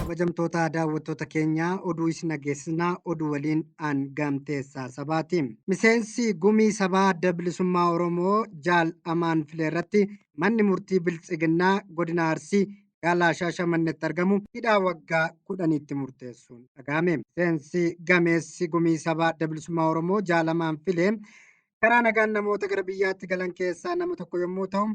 kabajamtoota daawwattoota keenyaa oduu isin dhageessisnaa oduu waliin aan gaamteessaa sabaati. Miseensi gumii sabaa adda bilisummaa Oromoo jaal amaan filee irratti manni murtii biltsiginnaa godina Arsii gaalaa shaashamannetti argamu hidhaa waggaa kudhaniitti murteessuun dhagahame. Miseensi gameessi gumii sabaa adda bilisummaa Oromoo jaal amaan filee karaa nagaan namoota gara biyyaatti galan keessaa nama tokko yommuu ta'u,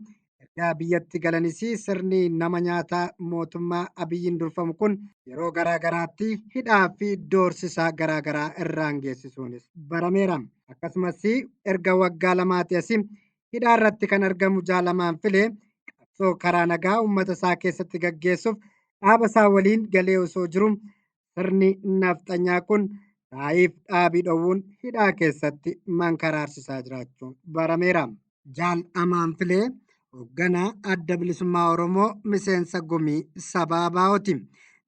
ergaa biyyatti galanis sirni nama nyaataa mootummaa Abiyyiin durfamu kun yeroo garaa garaatti hidhaa fi doorsisaa garaa garaa irraan geessisuunis barameera. Akkasumas erga waggaa lamaati asi hidhaa irratti kan argamu jaalamaan filee qabsoo karaa nagaa uummata isaa keessatti gaggeessuuf dhaaba isaa waliin galee osoo jiru sirni nafxanyaa kun taa'iif dhaabii dhowwuun hidhaa keessatti mankaraarsisaa jiraachuun barameera. Jaal Amaan Filee hoogganaa adda bilisummaa Oromoo miseensa gumii sabaa Abaa'ooti.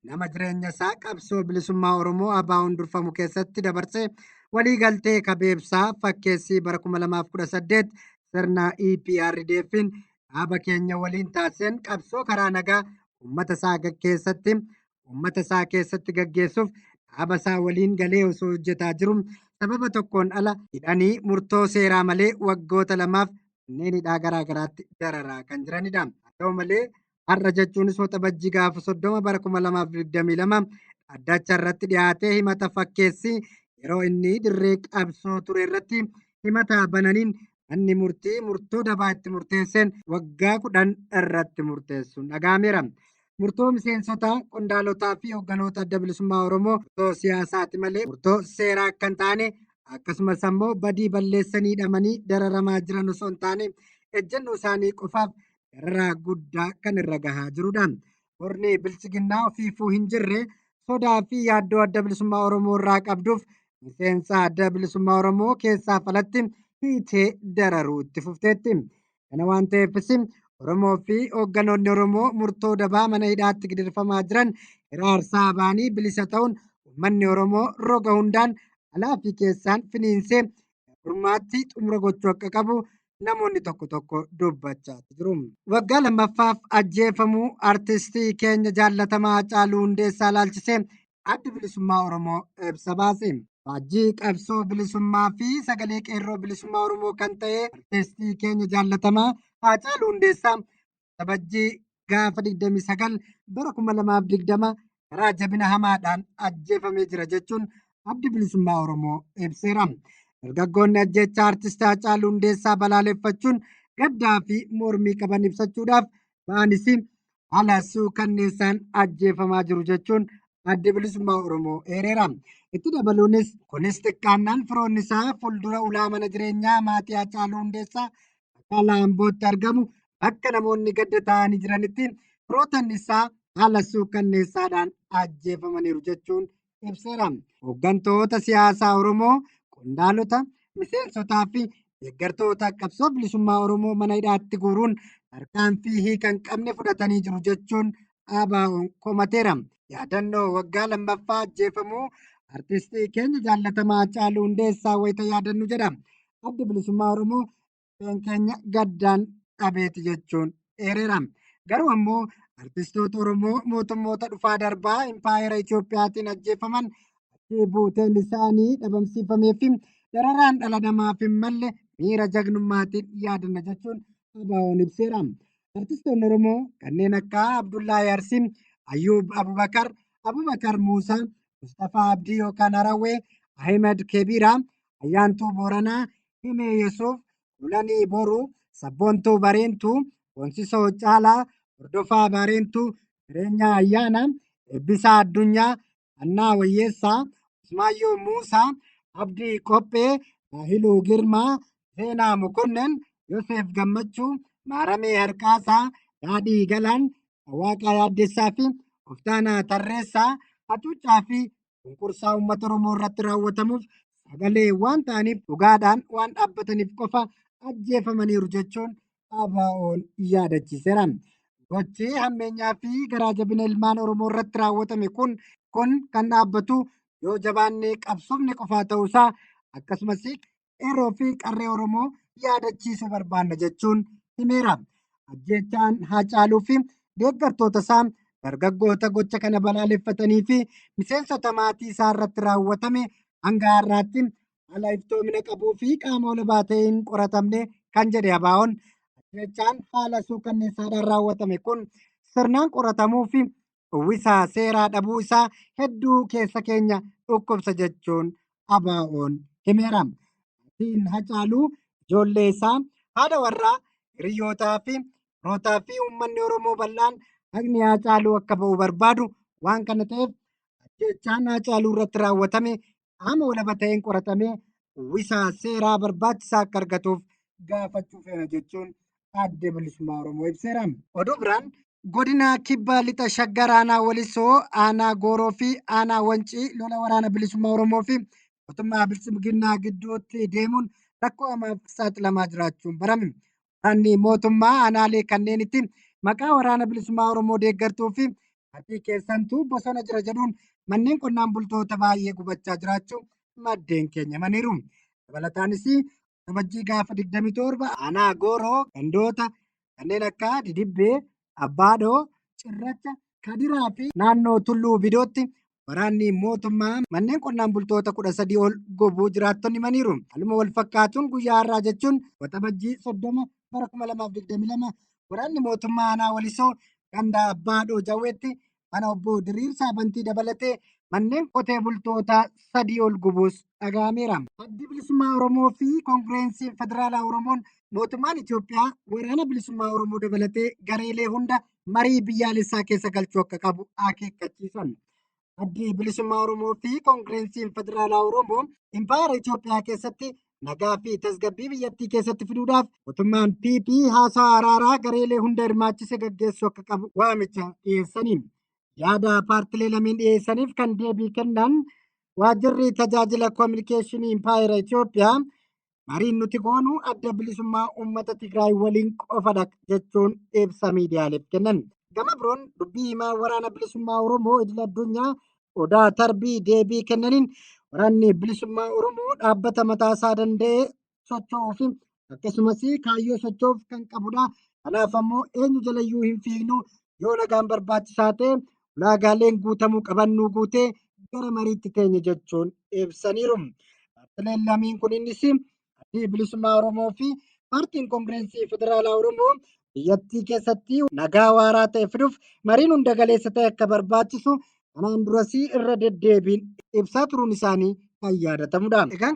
Nama jireenya isaa qabsoo bilisummaa Oromoo Abaa'oon durfamu keessatti dabarsee waliigaltee kabeebsaa fakkeessii bara 2018 sirna EPRDF'n dhaaba keenya waliin taasiseen qabsoo karaa nagaa uummata isaa gaggeessatti uummata isaa keessatti gaggeessuuf dhaaba isaa waliin galee osoo hojjetaa jiru sababa tokkoon ala hidhanii murtoo seeraa malee waggoota lamaaf manneen hidhaa garaa garaatti dararaa kan jiranidha. Haa ta'u malee har'a jechuunis waxabajjii gaafa soddoma bara kuma lamaaf digdamii lama dhaddacha irratti dhiyaatee himata fakkeessi yeroo inni dirree qabsoo ture irratti himata bananiin manni murtii murtoo dabaa itti murteesseen waggaa kudhan irratti murteessuun dhaga'ameera. Murtoo miseensota, qondaalotaa fi hogganoota adda bilisummaa Oromoo murtoo siyaasaati malee murtoo seeraa akka hin taane akkasumas ammoo badii balleessanii hidhamanii dararamaa jiran osoo hin taane ejjennoo isaanii qofaaf dararaa guddaa kan irra gahaa jirudha. Murni bilchiginnaa ofiifuu hin jirre sodaa fi yaaddoo adda bilisummaa Oromoo irraa qabduuf miseensa adda bilisummaa Oromoo keessaaf alatti hiitee dararuu itti fufteetti. Kana waan ta'eefis Oromoo fi hoogganoonni Oromoo murtoo dabaa mana hidhaatti gidirfamaa jiran hiraarsaa ba'anii bilisa ta'uun uummanni Oromoo roga hundaan alaa fi keessaan finiinsee gurmaatti xumura gochuu akka qabu namoonni tokko tokko dubbachaa jiru. Waggaa lammaffaaf ajjeefamuu artistii keenya jaallatamaa Haacaaluu Hundeessaa ilaalchisee Addi Bilisummaa Oromoo ibsa baase. Faajjii qabsoo bilisummaa fi sagalee qeerroo bilisummaa Oromoo kan ta'e artistii keenya jaallatamaa Haacaaluu Hundeessaa Sabajjii gaafa 29 bara 2020 karaa jabina hamaadhaan ajjeefamee jira jechuun addi bilisummaa Oromoo ibseera. Dargaggoonni ajjeechaa artistii Haacaaluu Hundeessaa balaaleffachuun gaddaa fi mormii qaban ibsachuudhaaf ba'anis haala suukanneessaan ajjeefamaa jiru jechuun addi bilisummaa Oromoo eereera. Itti dabaluunis kunis xiqqaannaan firoonni isaa fuuldura ulaa mana jireenyaa maatii Haacaaluu Hundeessaa magaalaa Ambootti argamu bakka namoonni gadda taa'anii jiranitti firoottan isaa haala suukanneessaadhaan ajjeefamaniiru jechuun ibseera. Hooggantoota siyaasaa Oromoo, qondaalota, miseensotaa fi deeggartoota qabsoo bilisummaa Oromoo mana hidhaatti guuruun tarkaanfii hiika hin qabne fudhatanii jiru jechuun ABO'n komateera. Yaadannoo waggaa lammaffaa ajjeefamuu artistii keenya jaallatamaa Haacaaluu Hundeessaa wayita yaadannu jedha. Addi Bilisummaa Oromoo Qeen keenya gaddaan dhabeeti jechuun eereera. Garuu ammoo artistoota Oromoo mootummoota dhufaa darbaa impaayera Itoophiyaatiin ajjeefaman achii buuteen isaanii dhabamsiifamee fi dararaan dhala namaaf hin malle miira jagnummaatiin yaadanna jechuun ABO'n ibseera. Artistoonni Oromoo kanneen akka Abdullahi Arsi, Ayyuub Abubakar, Abubakar Muusaa, Mustafaa Abdii yookaan Harawwee, Ahimad Kebiiraa, Ayyaantuu Booranaa, Himee Yesuuf, Kulanii Boruu, Sabboontuu Bareentuu, Boonsisoo Caalaa, Hordofaa Baareentuu, Jireenyaa Ayyaanaa, Eebbisaa Addunyaa, Hannaa Wayyeessaa, Usmaayyoo Muusaa, Abdii Qophee, Daahiluu Girmaa, Zeenaa Mokonnan, Yoseef Gammachuu, Maaramee Harqaasaa, Daadhii Galaan, Waaqaa Yaaddessaa fi Oftaanaa Tarreessaa hacuuccaa fi cunqursaa uummata Oromoo irratti raawwatamuuf sagalee waan ta'aniif dhugaadhaan waan dhaabbataniif qofa ajjeefamaniiru jechuun ABO'n yaadachiiseera. Gochi hammeenyaa fi garaa jabina ilmaan Oromoo irratti raawwatame kun kun kan dhaabbatu yoo jabaannee qabsoofne qofaa ta'uusaa akkasumas qeerroo fi qarree Oromoo yaadachiisuu barbaanna jechuun himeera. Ajjeechaan Haacaaluu fi deeggartoota isaa dargaggoota gocha kana balaaleffatanii fi miseensota maatii isaa irratti raawwatame hanga har'aatti haala iftoomina qabuu fi qaama olabaa ta'een qoratamne kan jedhe Abaa'oon ajjeechaan haala suukanneessaadhaan raawwatame kun sirnaan qoratamuu fi uwwisa seeraa dhabuu isaa hedduu keessa keenya dhukkubsa jechuun ABO'n himeera. Maatiin Hacaaluu ijoollee isaa, haadha warraa, hiriyyootaa fi firootaa fi uummanni Oromoo bal'aan haqni Hacaaluu akka ba'u barbaadu. Waan kana ta'eef ajjeechaan Hacaaluu irratti raawwatame qaama walaba ta'een qoratamee uwwisa seeraa barbaachisaa akka argatuuf gaafachuu feena jechuun adda bilisummaa Oromoo ibseera. Oduu biraan godina kibba lixa shaggar aanaa walisoo aanaa gooroo fi aanaa wancii lola waraana bilisummaa Oromoo fi mootummaa biltsiginnaa gidduutti deemuun rakkoo hamaaf saaxilamaa jiraachuun barame. Kan mootummaa aanaalee kanneenitti maqaa waraana bilisummaa Oromoo deeggartuu fi hatii keessantuu bosona jira jedhuun manneen qonnaan bultoota baay'ee gubachaa jiraachuu maddeen keenya himaniiru. Dabalataanis Kabajjii gaafa 27 aanaa Gooroo gandoota kanneen akka Didibbee, Abbaadhoo, Cirracha, Kadiraa fi naannoo Tulluu Bidootti waraanni mootummaa manneen qonnaan bultoota 13 ol gubuu jiraattonni himaniiru. Haaluma wal fakkaatuun guyyaa har'aa jechuun waxabajjii 30 bara 2022 waraanni mootummaa aanaa Walisoo ganda Abbaadhoo Jawweetti mana obbo Diriirsaa Bantii dabalatee manneen qotee bultootaa sadii ol gubuus dhaga'ameera. Addi Bilisummaa Oromoo fi Koongireensiin Federaalaa Oromoon mootummaan Itoophiyaa waraana bilisummaa Oromoo dabalatee gareelee hunda marii biyyaalessaa keessa galchuu akka qabu akeekkachiisan. Addi Bilisummaa Oromoo fi Koongireensiin Federaalaa Oromoo Impaayera Itoophiyaa keessatti nagaa fi tasgabbii biyyattii keessatti fiduudhaaf mootummaan PP haasaa araaraa gareelee hunda hirmaachise gaggeessuu akka qabu waamicha dhiyeessaniin yaada paartilee lameen dhiyeessaniif kan deebii kennan waajjirri tajaajila koominikeeshinii impaayera Itoophiyaa mariin nuti goonu adda bilisummaa uummata Tigraay waliin qofadha jechuun ibsa miidiyaaleef kennan. Gama biroon dubbii himaa waraana bilisummaa Oromoo idil addunyaa Odaa Tarbii deebii kennaniin waraanni bilisummaa Oromoo dhaabbata mataasaa danda'ee socho'uu fi akkasumas kaayyoo socho'uuf kan qabudha. Kanaaf ammoo eenyu jalayyuu hin fiignu yoo nagaan barbaachisaa ta'e ulaagaaleen guutamuu qaban nu guutee gara mariitti teenya jechuun ibsaniiru. Dhaabbileen lameen kunis Addi Bilisummaa Oromoo fi Paartiin Kongireensii Federaalaa Oromoo biyyattii keessatti nagaa waaraa ta'e fiduuf mariin hunda galeessa ta'e akka barbaachisu kanaan durasii irra deddeebiin ibsaa turuun isaanii kan yaadatamudha. Egaan